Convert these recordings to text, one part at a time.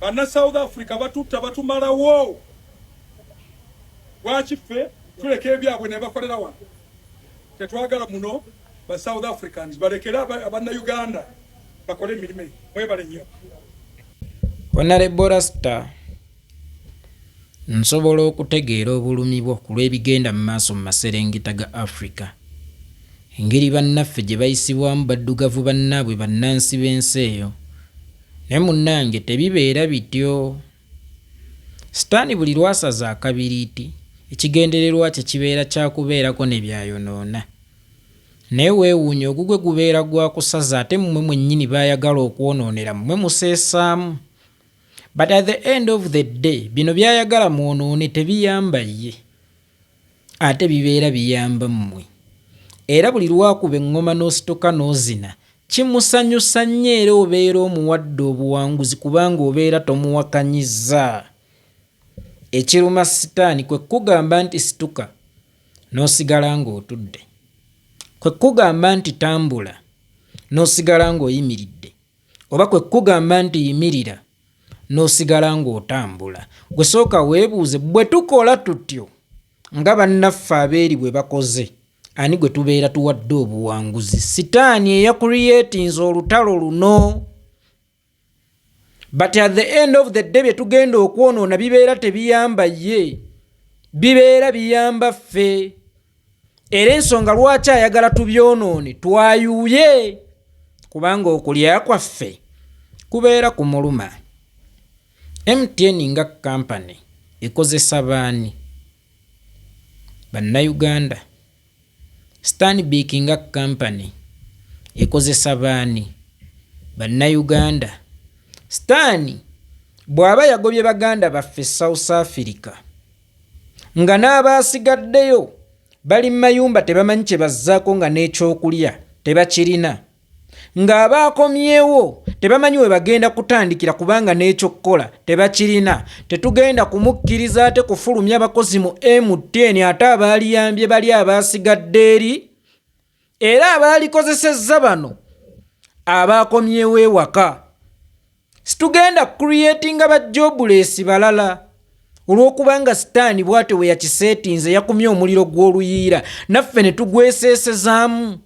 Banna South Africa batutta batumalawo. Lwaki ffe tuleka ebyabwe ne bakolera wano? Tetwagala muno ba South Africans balekere abanna Uganda bakole emirimu. Mwebale nnyo. Honorable Rasta Nsobola okutegeera obulumi bwo ku lw'ebigenda mu maaso mu maserengeta ga Afrika. Engeri bannaffe gye bayisibwamu baddugavu bannaabwe bannansi b'ensi eyo. Naye munnange tebibeera bityo. Sitaani buli lw'asaza akabiriiti, ekigendererwa kye kibeera kya kubeerako ne by'ayonoona. Naye weewuunye ogugwe gubeera gwa kusaza ate mmwe mwennyini b'ayagala okwonoonera mmwe museesaamu but at the end of the day bino byayagala mwonoone tebiyamba ye ate bibeera biyamba mmwe era buli lwakuba eŋŋoma n'ositoka n'ozina kimusanyusa nnyo era obeera omuwadde obuwanguzi kubanga obeera tomuwakanyiza ekiruma sitaani kwe kugamba nti situka n'osigala ng'otudde kwe kugamba nti tambula n'osigala ng'oyimiridde Oba kwe kukugamba nti yimirira n'osigala ng'otambula. Gwe sooka weebuuze, bwe tukola tutyo nga bannaffe abeeri bwe bakoze, ani gwe tubeera tuwadde obuwanguzi? Sitaani eyakuliyeetinze olutalo luno. But at the end of the day bye tugenda okwonoona bibeera tebiyamba ye, bibeera biyamba ffe. era ensonga lwaki ayagala tubyonoone twayuuye kubanga okulya kwaffe kubeera ku muluma mtn nga kampany ekozesa baani bannayuganda stanbic nga kampany ekozesa baani bannayuganda sitaani bw'aba yagobye baganda baffe south africa nga n'abaasigaddeyo bali mu mayumba tebamanyi kye bazzaako nga n'ekyokulya tebakirina ng'abaakomyewo tebamanyi we bagenda kutandikira kubanga n'ekyokukola tebakirina tetugenda kumukkiriza ate kufulumya bakozi mu mtn ate abaaliyambye bali abaasigadde eri era abaalikozesezza bano abaakomyewo ewaka situgenda kucreatinga ba jobuleesi balala olw'okubanga sitaani bwatyo bwe yakiseetinze yakumye omuliro gw'oluyiira naffe ne tugweseesezaamu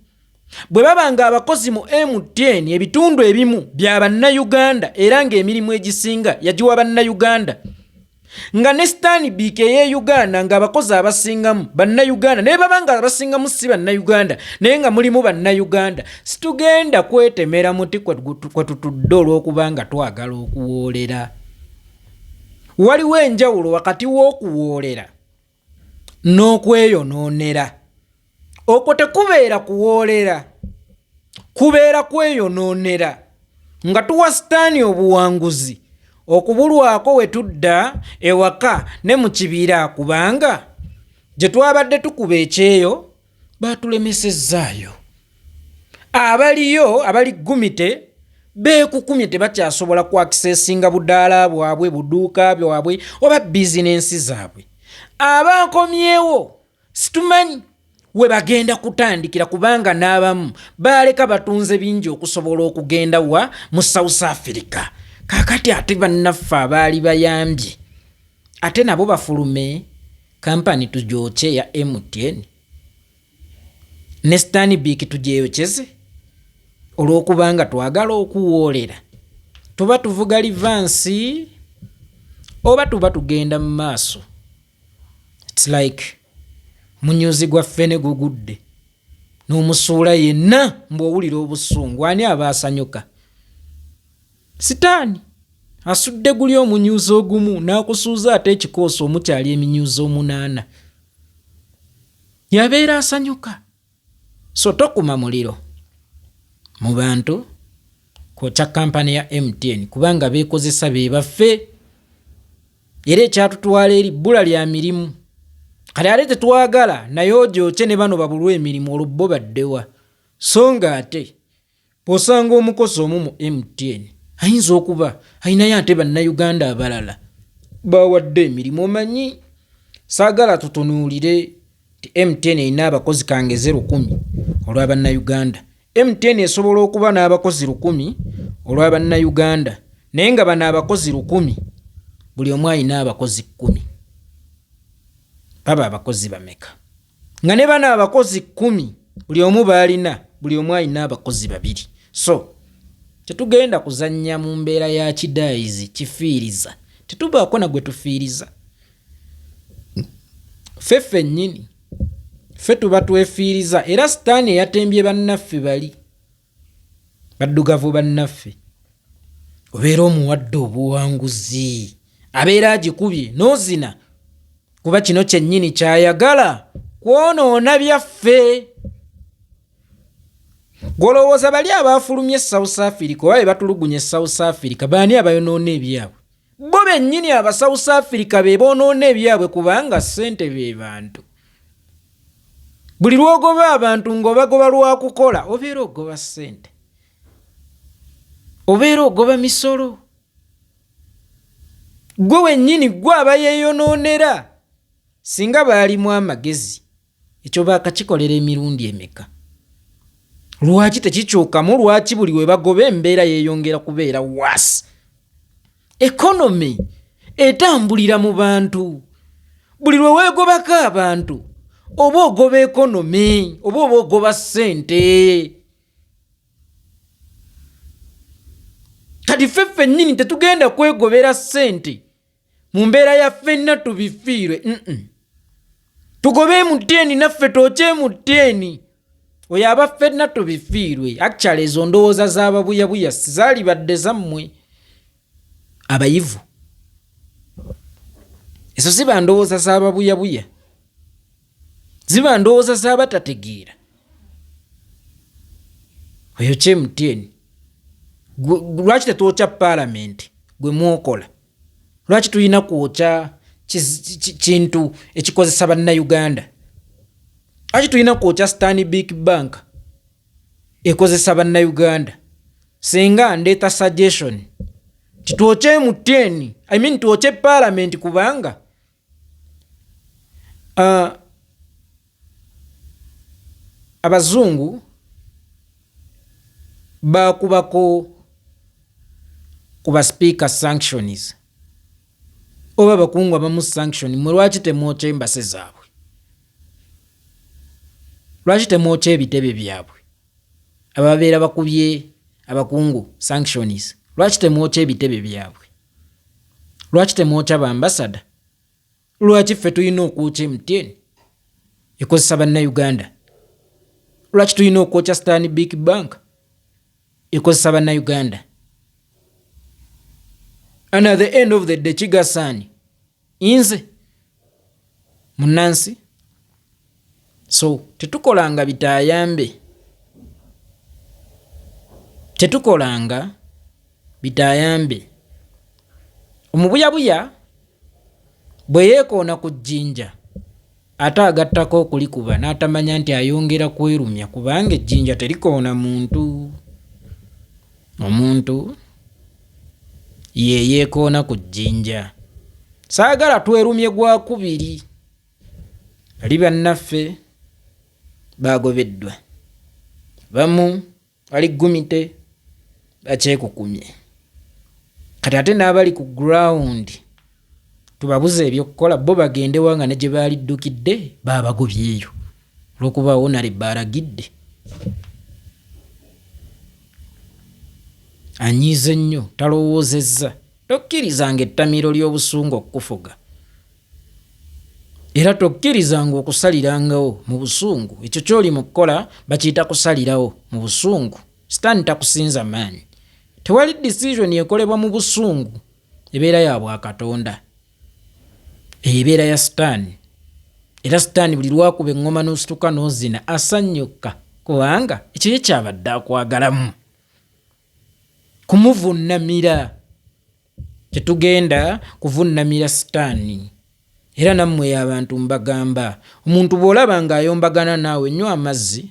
bwe baba nga abakozi mu mtn ebitundu ebimu bya bannayuganda era ng'emirimu egisinga yagiwa bannayuganda nga ne sitaani biika eye uganda nga abakozi abasingamu bannayuganda naye baba nga abasingamu si bannayuganda naye nga mulimu bannayuganda situgenda kwetemera muti kwe tutudde olw'okubanga twagala okuwoolera waliwo enjawulo wakati w'okuwoolera n'okweyonoonera okwo tekubeera kuwoolera kubeera kweyonoonera nga tuwa sitaani obuwanguzi okubulwako we tudda ewaka ne mu kibira kubanga gye twabadde tukuba ekyeyo baatulemesezzaayo abaliyo abali gumite beekukumye tebakyasobola kwakisesinga budaala bwabwe buduuka bwabwe oba bizinensi zaabwe abaakomyewo situmanyi we bagenda kutandikira kubanga n'abamu baaleka batunze bingi okusobola okugenda wa mu south africa kakati ate bannaffe abaali bayambye ate nabo bafulume Kampani tugyokye eya MTN ne Stanbic tugyeyokyeze olw'okubanga twagala okuwoolera tuba tuvuga livansi oba tuba tugenda mu maaso its like munyuzi gwaffe ne gugudde n'omusuula yenna mbu owulira obusungu ani aba asanyuka Sitaani asudde guli omunyuuza ogumu n'akusuuza ate ekikoosi omukyali eminyuuza omunaana. Yabeera asanyuka. So tokuma muliro mu bantu kwokya kampani ya MTN kubanga beekozesa be baffe era ekyatutwala eri bbula lya mirimu. Kale ate tetwagala naye ogyokye ne bano babulwa emirimu olwo bo baddewa so ng'ate Bw'osanga omukozi omu mu MTN ayinza okuba alinayo ate Bannayuganda abalala b'awadde emirimu omanyi saagala tutunuulire nti MTN erina abakozi kangeze lukumi olwa Bannayuganda. MTN esobola okuba n'abakozi lukumi olwa Bannayuganda naye nga bano abakozi lukumi buli omu alina abakozi kkumi baba abakozi bameka? nga ne bano abakozi kumi buli omu baalina buli omu alina abakozi babiri so tetugenda kuzannya mu mbeera ya kidaayizi kifiiriza tetubaako na gwe tufiiriza ffe ffennyini ffe tuba twefiiriza era sitaani eyatembye bannaffe bali baddugavu bannaffe obeera omuwadde obuwanguzi abeera agikubye n'ozina kuba kino kyennyini kyayagala kwonoona byaffe golowooza bali abaafulumye e south africa oba be batulugunya e south africa baani abayonoona ebyabwe Bo bennyini aba South Africa be boonoona ebyabwe kubanga ssente be bantu. Buli lw'ogoba abantu ng'obagoba lwa kukola obeera ogoba ssente, obeera ogoba misolo. Ggwe wennyini ggwe aba yeeyonoonera singa baalimu amagezi. Ekyo baakakikolera emirundi emeka? Lwaki tekikyukamu? Lwaki buli we bagoba embeera yeeyongera kubeera waasi? Ekonomi etambulira mu bantu. Buli lwe weegobako abantu oba ogoba ekonomi oba oba ogoba ssente. Kati ffe ffennyini tetugenda kwegobera ssente. mu mbeera ya ffenna tubifiirwe tugobe mutteeni naffe twokye mutteeni oyo aba ffenna tubifiirwe actually ezo ndowooza z'ababuyabuya sizaalibadde zammwe abayivu ezo ziba ndowooza z'ababuyabuya ziba ndowooza z'abatategeera oyo kye mutteeni lwaki tetwokya paalamenti gwe mwokola lwaki tulina kwokya kintu ekikozesa bannauganda lwaki tulina kwokya stani big bank ekozesa bannauganda singa ndeeta suggestion titwokye muteni i mean twokye palamenti kubanga Uh, abazungu bakubako ku basipiika sanctions oba abakungu abamu sanction mwe lwaki temwokya embase zaabwe lwaki temwokya ebitebe byabwe ababeera bakubye abakungu sanctions lwaki temwokya ebitebe byabwe lwaki temwokya ba ambasada lwaki ffe tulina okwokya mtn ekozesa bannauganda lwaki tulina okwokya stan big bank ekozesa bannauganda and at the end of the day kigasaani inze munansi so tetukolanga bitayambe tetukolanga bitayambe omubuyabuya bwe yeekoona ku jjinja Ate agattako okulikuba n'atamanya nti ayongera kwerumya kubanga ejjinja terikoona muntu. Omuntu ye yeekoona ku jjinja. Saagala twerumye gwa kubiri. Bali bannaffe baagobeddwa. Abamu bali gumite bakyekukumye kati ate n'abali ku ground tubabuze ebyokukola bo bagendewa nga ne gye baaliddukidde baabagobyeyo olwokuba wonale baalagidde anyiize nnyo talowoozezza tokkirizanga ettamiro ly'obusungu okukufuga era tokkirizanga okusalirangawo mu busungu ekyo kyoli mu kukola bakiyita kusalirawo mu busungu sitaani takusinza maanyi tewali decision ekolebwa mu busungu ebeera ya bwakatonda eyo ebeera ya sitaani era sitaani buli lwakuba eŋŋoma n'osituka n'ozina asanyukka kubanga ekyo ye kyabadde akwagalamu kumuvunnamira Tetugenda kuvunnamira sitaani. Era nammwe abantu mbagamba, omuntu bw'olaba ng'ayombagana naawe, nywa amazzi.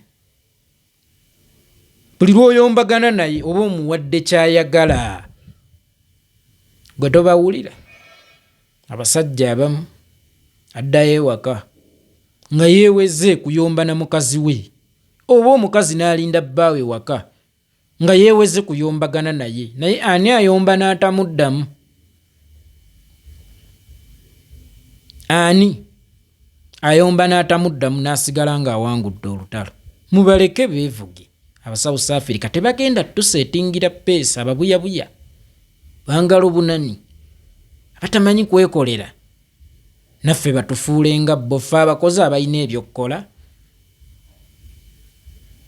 Buli lw'oyombagana naye oba omuwadde ky'ayagala. Gwe tobawulira. Abasajja abamu addayo ewaka nga yeeweze kuyomba na mukazi we oba omukazi n'alinda bbaawe waka nga yeeweze kuyombagana naye naye ani ayomba n'atamuddamu ani ayomba n'atamuddamu n'asigala ng'awangudde olutalo mubaleke beevuge abasouth africa tebagenda tuseetingira peesa ababuyabuya bangala obunani abatamanyi kwekolera naffe batufuule nga bbo ffe abakozi abalina ebyokkola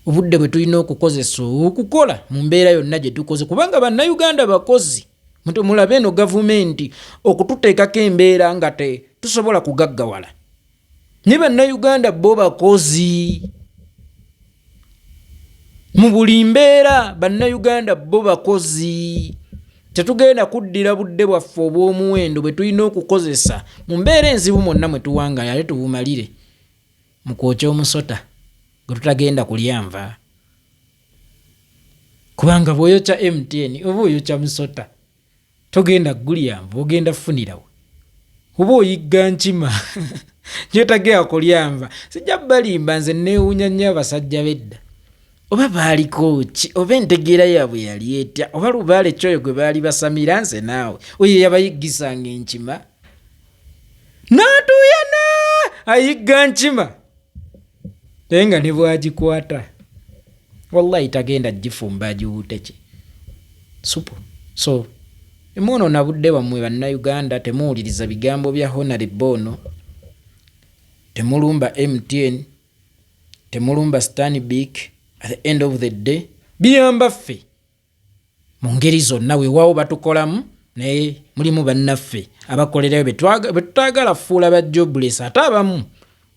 obudde bwe tulina okukozesa okukola mu mbeera yonna gye tukoze kubanga bannayuganda bakozi mulabe eno gavumenti okututeekako embeera nga te tusobola kugaggawala naye bannayuganda bo bakozi mu buli mbeera bannayuganda bo bakozi tetugenda kuddira budde bwaffe obw'omuwendo bwe tulina okukozesa mu mbeera enzibu mwonna mwe tuwangayo ate tubumalire mu kwokya omusota gwe tutagenda kulyanva kubanga bw'oyokya mtn oba oyokya musota togenda gulyamba ogenda funirawo kuba oyigga nkima gyotagea kulyamba sijja balimba nze neewunya nnyo abasajja bedda oba baaliko ki oba entegeera yaabwe yali etya oba lubaale kyoyo gwe baali basamira nze naawe oyo yabayiggisanga enkima n'atuuyana ayigga nkima naye nga ne bwagikwata wallahi tagenda gifumba agiwuuteki supu so emuono nabudde bammwe bannayuganda temuwuliriza bigambo bya honare boono temulumba mtn temulumba stanbic at the end of the day biyamba ffe mu ngeri zonna weewaawo batukolamu naye mulimu bannaffe abakolerayo betutaagala fuula ba jobless ate abamu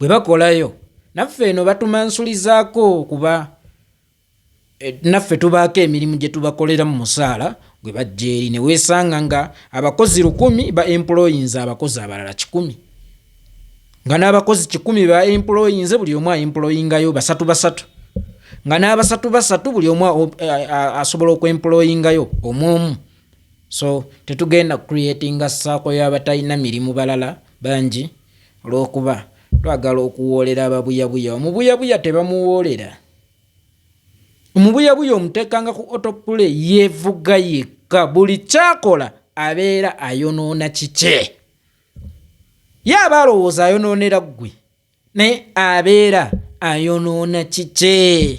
bwe bakolayo naffe eno batumansulizaako kuba eh, naffe tubaako emirimu gye tubakolera mu musaala gwe bajja eri ne weesanga nga abakozi lukumi ba employinza abakozi abalala kikumi nga n'abakozi kikumi ba employinze buli omu aemployingayo basatu basatu nga n'abasatu basatu buli omu asobola okuemployingayo omu omu so tetugenda creatinga saako y'abatalina mirimu balala bangi olw'okuba twagala okuwoolera ababuyabuya omubuyabuya tebamuwoolera omubuyabuya omuteekanga ku otopule yeevuga yekka buli kyakola abeera ayonoona kikye ye aba alowooza ayonoonera ggwe naye abeera ayonoona kikye